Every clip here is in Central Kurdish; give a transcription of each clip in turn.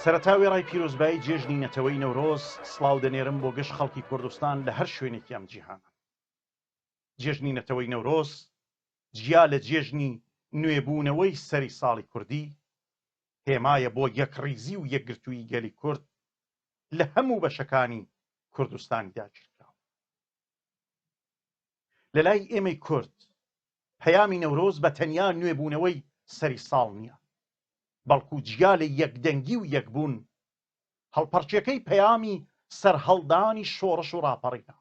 سەرەتا وێڕای پیرۆزبایی جێژنی نەتەوەی نەورۆز سلااو دەنێرم بۆ گەشت خەڵکی کوردستان لە هەر شوێنێکی ئەم جیهان جێژنی نەتەوەی نەورۆز جیا لە جێژنی نوێبوونەوەی سەری ساڵی کوردی هێمایە بۆ یەکڕیزی و یەکگرتوویی گەلی کورد لە هەموو بەشەکانی کوردستانی داگیرکراو. لە لای ئێمەی کورد پەیامی نەورۆز بە تەنیا نوێبوونەوەی سەری ساڵ نییە، بەڵکو جیا لە یەکدەنگی و یەکبوون، هەڵپەڕکێکەی پەیامی سەرهەڵدانی شۆڕش و ڕاپەڕینە،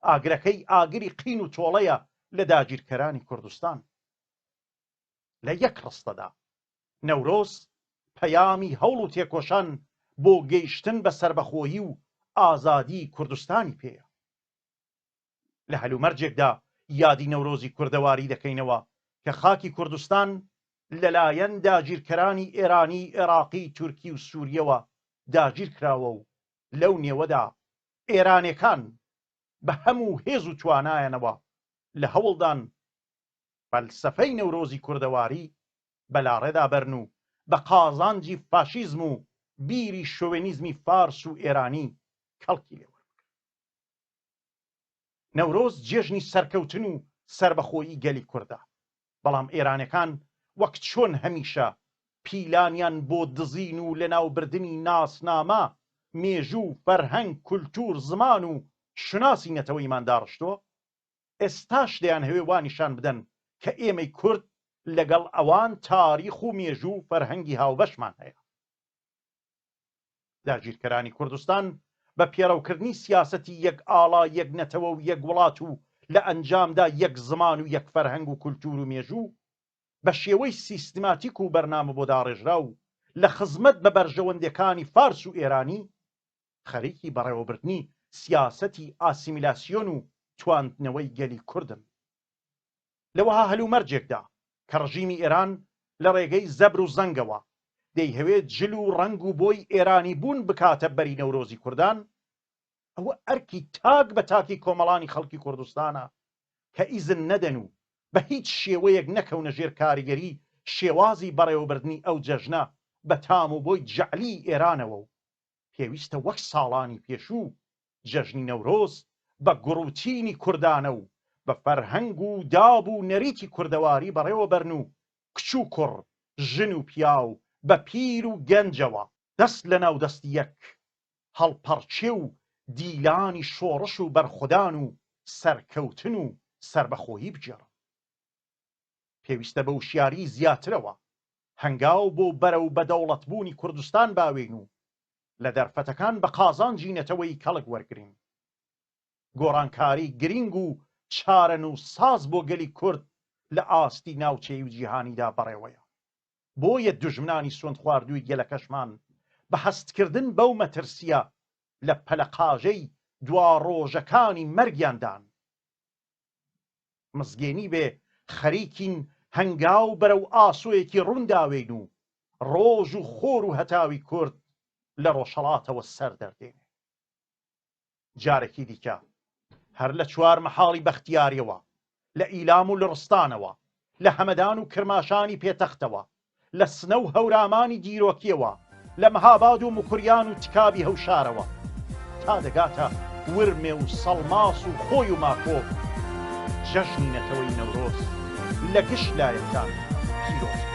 ئاگرەکەی ئاگری قین و تۆڵەیە لە داگیرکەرانی کوردستان. لە یەک ڕستەدا. نەورۆز پەیامی هەوڵ و تێکۆشان بۆ گەیشتن بە سەربەخۆیی و ئازادیی کوردستانی پێیە. لە هەلومەرجێکدا یادی نەورۆزی کوردەواری دەکەینەوە کە خاکی کوردستان لەلایەن داگیرکەرانی ئێرانی، ئێراقی، تورکی و سوورییەوە داگیر کراوە و لەو نێوەدا ئێرانێکان بە هەموو هێز و توانایانەوە لە هەوڵدان فەلسەفەی نەورۆزی کوردەواری بە لاڕێدا بەرن و بە قازانجی فاشیزم و بیری شۆوێنیزمی فارس و ئێرانی کەڵکی لێ وەربگرن. نەورۆز جێژنی سەرکەوتن و سەربەخۆیی گەلی کوردە، بەڵام ئێرانەکان وەک چۆن هەمیشە پیلانیان بۆ دزین و لەناوبردنی ناسنامە، مێژوو، فەرهەنگ، کولتوور، زمان و شوناسی نەتەوەیمان داڕشتووە، ئێستاش دەیانهەوێ وا نیشان بدەن کە ئێمەی کورد لەگەڵ ئەوان تاریخ و مێژوو و فەرهەنگی هاوبەشمان هەیە. داگیرکەرانی کوردستان بە پێڕەوکردنی سیاسەتی یەک ئاڵا یەک نەتەوە و یەک وڵات و لە ئەنجامدا یەک زمان و یەک فەرهەنگ و کولتوور و مێژوو بە شێوەی سیستماتیک و بەرنامە بۆ داڕێژراو لە خزمەت بە بەرژەوەندێکانی فارس و ئێرانی خەریکی بەڕێوەبردنی سیاسەتی ئاسیمیلاسیۆن و تواندنەوەی گەلی کوردن. لە وەها هەلومەرجێکدا کە ڕژیمی ئێران لە ڕێگەی زەبر و زەنگەوە دەیهەوێ جل و ڕەنگ و بۆی ئێرانی بوون بکاتە بەری نەورۆزی کوردان، ئەوە ئەرکی تاک بە تاکی کۆمەڵانی خەڵکی کوردستانە کە ئیزن نەدەن و بە هیچ شێوەیەک نەکەونە ژێر کاریگەری شێوازی بەڕێوەبردنی ئەو جەژنە بە تام و بۆی جەعلیی ئێرانەوە و پێویستە وەک ساڵانی پێشوو جەژنی نەورۆز بە گوڕ و چینی کوردانە و بە فەرهەنگ و داب و نەریتی کوردەواری بەڕێوە بەرن و کچ و کوڕ، ژن و پیاو، بە پیر و گەنجەوە، دەست لە ناو دەستی یەک، هەڵپەڕکێ و دیلانی شۆڕش و بەرخودان و سەرکەوتن و سەربەخۆیی بگێڕن. پێویستە بە وشیاریی زیاترەوە هەنگاو بۆ بەرەو بەدەوڵەتبوونی کوردستان باوێین و لە دەرفەتەکان بە قازانجی نەتەوەی کەڵک وەرگرین. گۆڕانکاری گرینگ و چارەنووسساز بۆ گەلی کورد لە ئاستی ناوچەیی و جیهانیدا بەڕێوەیە. بۆیە دوژمنانی سوندخواردووی گەلەکەشمان بە هەستکردن بەو مەترسییە لە پەلەقاژەی دواڕۆژەکانی مەرگیاندان. مزگێنی بێ خەریکین هەنگاو بەرەو ئاسۆیەکی ڕووندا وێین و ڕۆژ و خۆر و هەتاوی کورد لە ڕۆژهەڵاتەوە سەر دەردێنێ. جارێکی دیکە هەر لە چوار مەحاڵی بەختیاریەوە، لە ئیلام و لڕستانەوە، لە هەمەدان و کرماشانی پێتەختەوە، لە سنە و هەورامانی دیرۆکییەوە، لە مهاباد و مکوریان و تکابی هەوشارەوە تا دەگاتە ورمێ و سەڵماس و خۆی و ماکۆ، جەژنی نەتەوەی نەورۆز لە گشت لایەکان پیرۆز بێت.